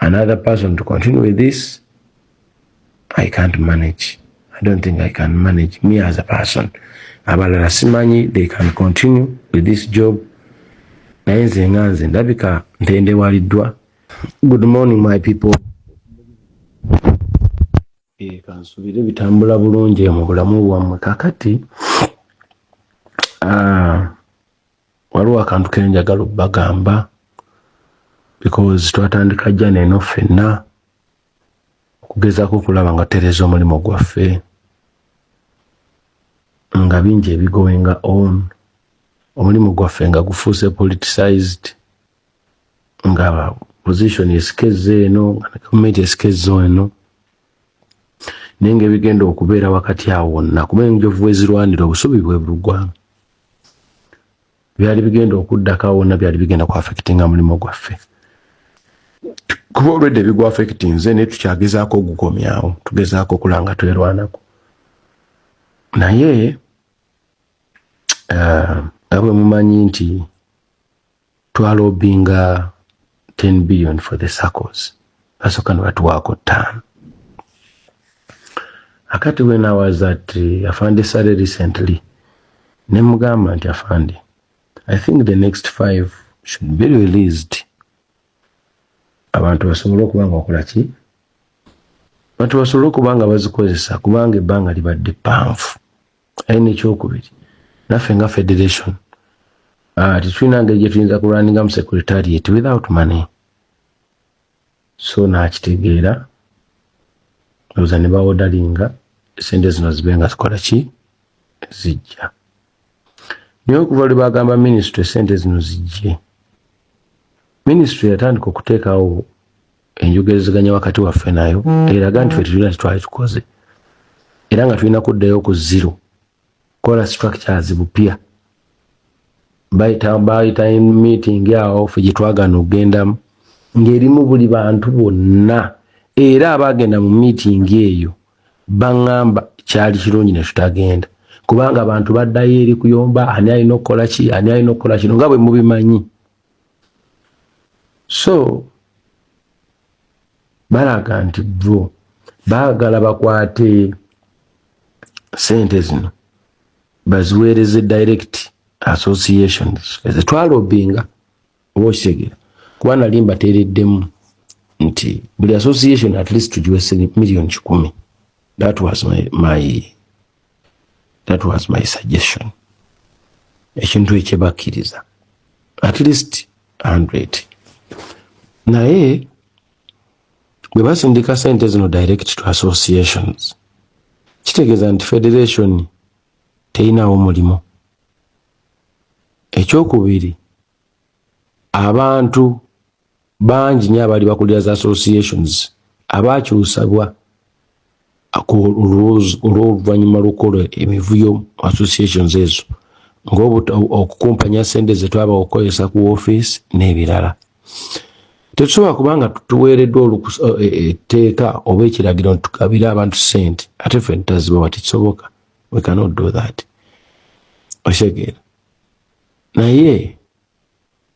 another person to continue with this i can't manage i don't think i can manage me as a person abalala simanyi they can continue with this job naye nze nga nze ndabika ntendewaliddwa good morning my people Eh, kansubire bitambula bulungi mu bulamu bwammwe kakati ah, waliwo akantu kenjagala obbagamba because twatandika jana eno ffenna okugezaako okulaba nga tutereeza omulimu gwaffe nga bingi ebigoinga on omulimu gwaffe nga gufuuse politicized nga position esikeza eno nga ne gavumenti esikeza eno naye nga ebigenda okubeera wakati awo wonna kuba enjovu ezirwanira obusubi bwe bulugwamu byali bigenda okuddako awo wonna byali bigenda ku affectinga mulimu gwaffe kuba olwedde ebigwa affectinze naye tukyagezaako ogukomyawo tugezaako okula nga twerwanako naye eh, nga bwe mumanyi nti twalobinga 10 billion for the circles basoka nebatuwaako ttaano akati when i was at uh, afande sale recently nemugamba nti afande i think the next five should be released abantu basobole okuba nga wakola ki abantu basobole okuba nga bazikozesa kubanga ebbanga libadde ppanvu aye nekyokubiri naffe nga federation ah, tetulina ngeri gyetuyinza kulwaninga mu secretariat without money so nakitegeera oza ne bawodalinga sente zino zibe nga zikola ki zijja naye okuva lwe bagamba minisitule sente zino zijje minisitule yatandika okuteekawo enjogerezeganya wakati waffe nayo eraga nti fetulina tetwali tukoze era nga tulina kuddayo ku zero kola structures bupya bayita meeting awo fe gyetwagana okugendamu ng'erimu buli bantu bonna era abaagenda mu meeting eyo baŋŋamba kyali kirungi ne tutagenda kubanga abantu baddayo eri kuyomba ani alina okukola ki ani alina okukola kino nga bwe mubimanyi so balaga nti bo baagala bakwate sente zino baziweereze direct associations zetwalobinga oba okitegera kuba nali mbateereddemu nti buli association at least tugiwe million kikumi that was my, my that was my suggestion ekintu ekyebakkiriza at least 100 naye bwe basindika sente zino direct to associations kitegeeza nti federation teyinawo mulimu ekyokubiri abantu bangi nyo abali bakulira za associations abakyusabwa olwoluvanyuma lwokukola emivuyo mu associations ezo ngaokukumpanya sente zetwaba okukozesa ku office n'ebirala tetusobola kubanga tuweereddwa e, e, etteeka oba ekiragiro ntukabire abantu sente ate fe ntazibawa tekisoboka we cannot do that okitegeera Naye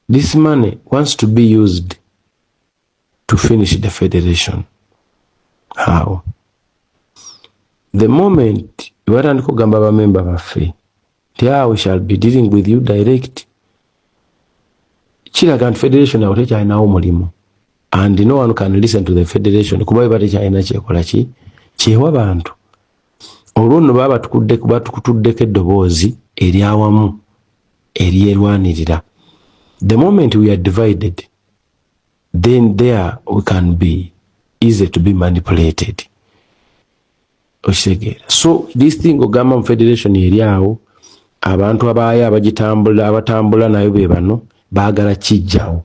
this money wants to be used to finish the federation. How? The moment batandika okugamba bamemba baffe nti ah, we shall be dealing with you direct, kiraga nti federation awo tekyalinawo mulimu and no one can listen to the federation kuba beba tekyalina kyekola ki kyewa bantu olwo nno baba batukutuddeko eddoboozi eryawamu eryerwanirira the moment we are divided then there we can be easy to be manipulated okitegeera so this thing ogamba mu federation eri awo abantu abaayo abagitambula abatambula nayo be bano baagala kijjawo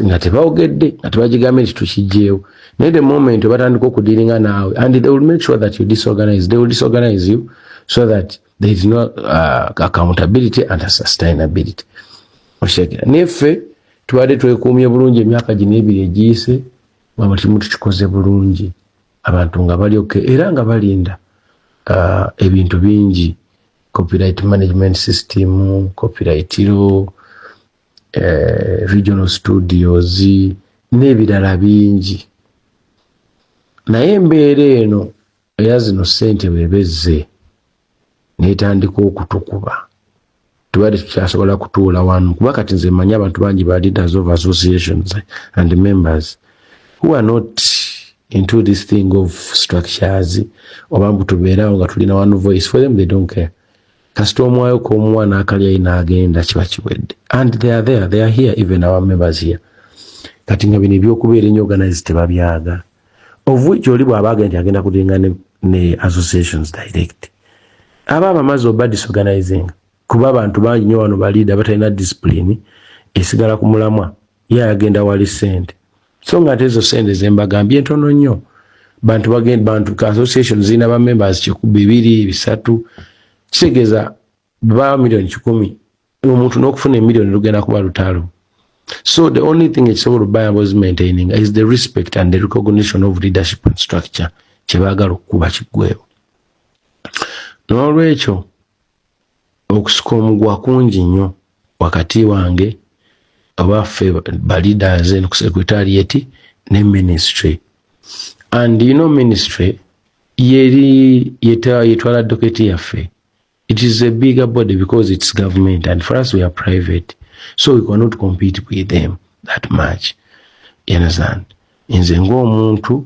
nga tebawogedde nga tebagigambye nti tukijjeewo naye the moment webatandika okudiringa naawe and they will make sure that you disorganize they will disorganize you so that there is no uh, accountability and sustainability okitegera naye ffe tubadde twekuumye bulungi emyaka gino ebiri egiyise wama kimu tukikoze bulungi abantu nga bali oke era nga balinda uh, ebintu bingi copyright management system copyright law eh, regional studios n'ebirala bingi naye embeera eno era zino ssente bweba ezze netandika okutukuba tubadde tukyasobola kutuula wanu kuba kati nze manyi abantu bangi ba leaders of associations and members who are not into this thing of structures oba mbu tubeerawo nga tulina one voice for them they don't care kasita omwayo komuwa nakalyayi nagenda kiba kiwedde and they are there they are here even our members here kati nga bino ebyokubeera enyo organize tebabyaga of which oli bwaba agenda nti agenda kulinga ne, ne associations direct aba abamaze oba disorganizing kuba abantu bangi nyo wano baliida batalina discipline esigala ku mulamwa ye ayagenda wali sente so nga ate ezo sente zembagambye ntono nnyo bantu bagenda bantu association zirina ba members bibiri bisatu kitegeeza ba million kikumi omuntu n'okufuna emiliyoni lugenda kuba lutalo so the only thing ekisobola obayamba ozimaintaininga is the respect and the recognition of leadership and structure kyebaagala okukuba kiggwewo n'olwekyo okusika omugwa kungi nnyo wakati wange abaffe ba leaders and secretariat ne ministry and you know ministry yeri yetwala doketi yaffe it is a bigger body because it's government and for us we are private so we cannot compete with them that much you understand nze ng'omuntu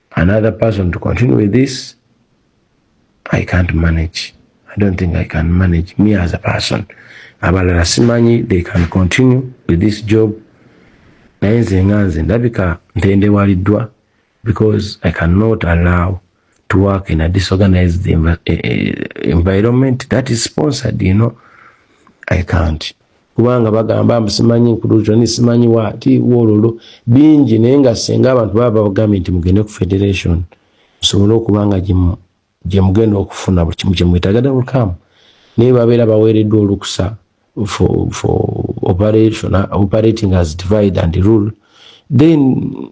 another person to continue with this i can't manage i don't think i can manage me as a person abalala simanyi they can continue with this job naye nze nga nze ndabika ntendewaliddwa because i cannot allow to work in a disorganized env eh, eh, environment that is sponsored you know i can't kubanga bagamba mbu simanyi nkuluuzoni simanyi waati wololo bingi naye nga singa abantu baba babagambye nti mugende ku federation musobole okuba nga gyemugenda okufuna buli kimu kyemwetaaga double cam naye babeera baweereddwa olukusa for, for operation, operating as divide and rule then